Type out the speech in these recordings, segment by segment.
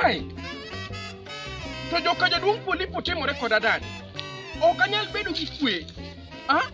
Ai! To joka jaduong' Polipo timore koda dani. Ok anyal bedo gi kwe. Ah?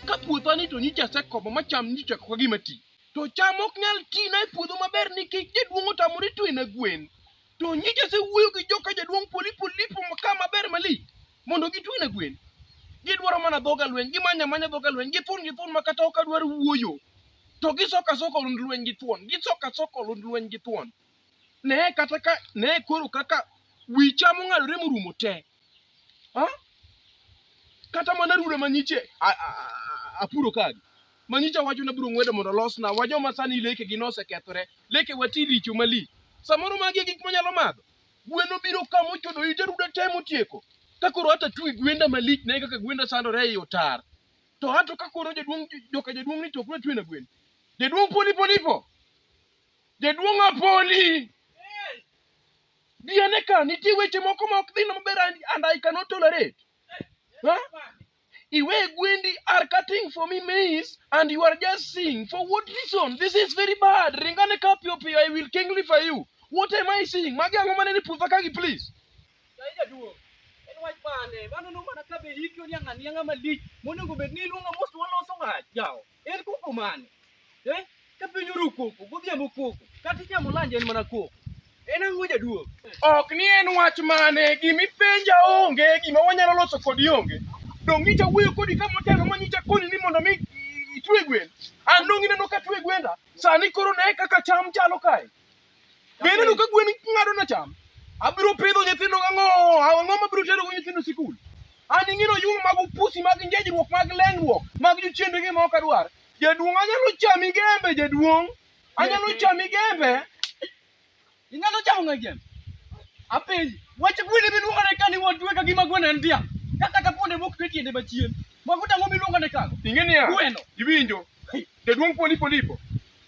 Ka puotha ni to nyicha asekomo ma cham nyicha kaka gima ti. To cham ok nyal ti na e puodho maber nikech jaduong' otamore twe na gwen. To nyicha asewuoyo gi joka jaduong' Polipo lipo ma ka maber malich. mondo gitwene gwen gidwaro mana dhoga lweny gimanya manya dhoga lweny githun githun ma kata ok adwar wuoyo to gisoka soko lund lweny gi thuon gisoka soko lund lweny gi thuon ne kata ka ne koro kaka wicha mong'adore morumo te ha? kata mana rude manyiche a- a- a- apuro kagi manyicha wacho na biro ng'wedo mondo losna wa joma sani lekegi nosekethore leke wati richo mali samoro magi e gik manyalo madho Gwen obiro ka mochodo ite ruda te motieko. Ka koro hata twi gwenda malich ne kaka gwenda sandore ei otar. To hato ka koro jaduong' joka jaduong' ni to ok natwena gwen. Jaduong' poli polipo. Jaduong' apoli. Diane ka nitie weche moko ma ok dhi maber and I cannot tolerate. Ha? iwe gwendi are cutting for me maize and you are just seeing for what reason this is very bad ringane ka piyo piyo i will kingly for you what am i seeing magi ang'o mane ni puotha kagi please jaduong en wach mane mano no mana ka be hiki oniang'a niang'a malich monego bed ni iluonga mos waloso wach jawo En koko mane? Eh? Ka piny oru koko, godhiambo koko, kata inyamo lanji en mana koko. En ang'o jaduong'? Ok ni en wach mane, gimipenja onge, gima wanyalo loso kodi onge. Donge nyicha wuoyo kodi ka motelo ma nyicha koni ni mondo mi itwe gwen. An donge ineno ka atwe gwenda, sani koro ne kaka cham chalo kae. Be ineno ka gwen ng'ado na cham? Abiro pidho nyithindo ang'o? Ang'o mabiro tero go nyithindo sikul? An ing'ino yung mag upusi mag njejruok mag lengruok mag jochiende gi ma ok adwar. Jaduong' anyalo chami gembe jaduong'. Anyalo chami gembe. Inyalo chamo ng'e gembe. Apenji, wach gwen miluongo ne kani won tuwe ka gima gwen en dhiang'. Ka kata kuonde mok twe tiende machien. Mago tang'o miluongo ne kago. Ing'e niya? Gweno. Iwinjo? Jaduong' polipo lipo.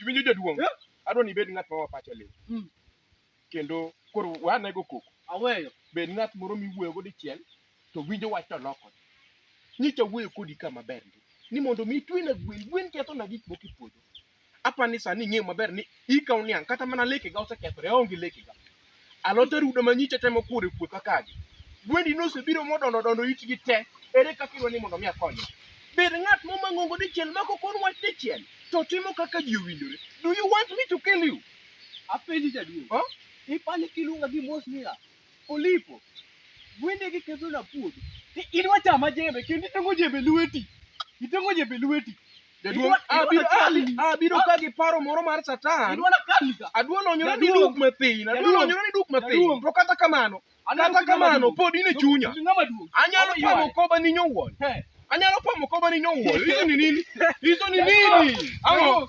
Iwinjo jaduong'? Eh? Adwa ni ibed ng'at ma wapache lit. Mm. Kendo koro wane go koko. Aweyo. Bed ng'at moro miwuoyo go dichiel to winjo wach to loko. Nyicha wuoyo kodi ka maber ndi. Ni mondo mi twina gwen, gwen ketho na gik moko e puodho. Apa ni sani ing'eyo maber ni ikaw niang' kata mana lekega osekethore, aonge lekega. Alote rudo manyicha temo kuore puotha kagi. Gwendi nosebiro modondo dondo itgi te. Ere kaka idwa ni mondo mi akonye? Bed ng'at moma ng'ongo dichiel mako kor wach dichiel to timo kaka ji owinjore. Do you want me to kill you? Apenji jaduong'. Huh? Ipani kiluonga gi mos niya, Olipo, gwende gi kethona puodho. Ti- Idwa chama jembe kendo itongo jembe lweti. Itongo jembe lweti. Jaduong' Idwa- idwa abiro kali. ali- abiro ka gi paro moro mar satan Idwa na kali ka. adwa lonyorani Jaduong'. duk mathin adwa Jaduong'. lonyorani duk mathin Jaduong'. to kata kamano Anyalo kata timo kamano maduong'. pod in e chunya Timo maduong'. anyalo Ama pamo ywaye. koba ninyo wuon He. anyalo pamo koba ninyo wuon hizo ni nini hizo ni nini Ang'o?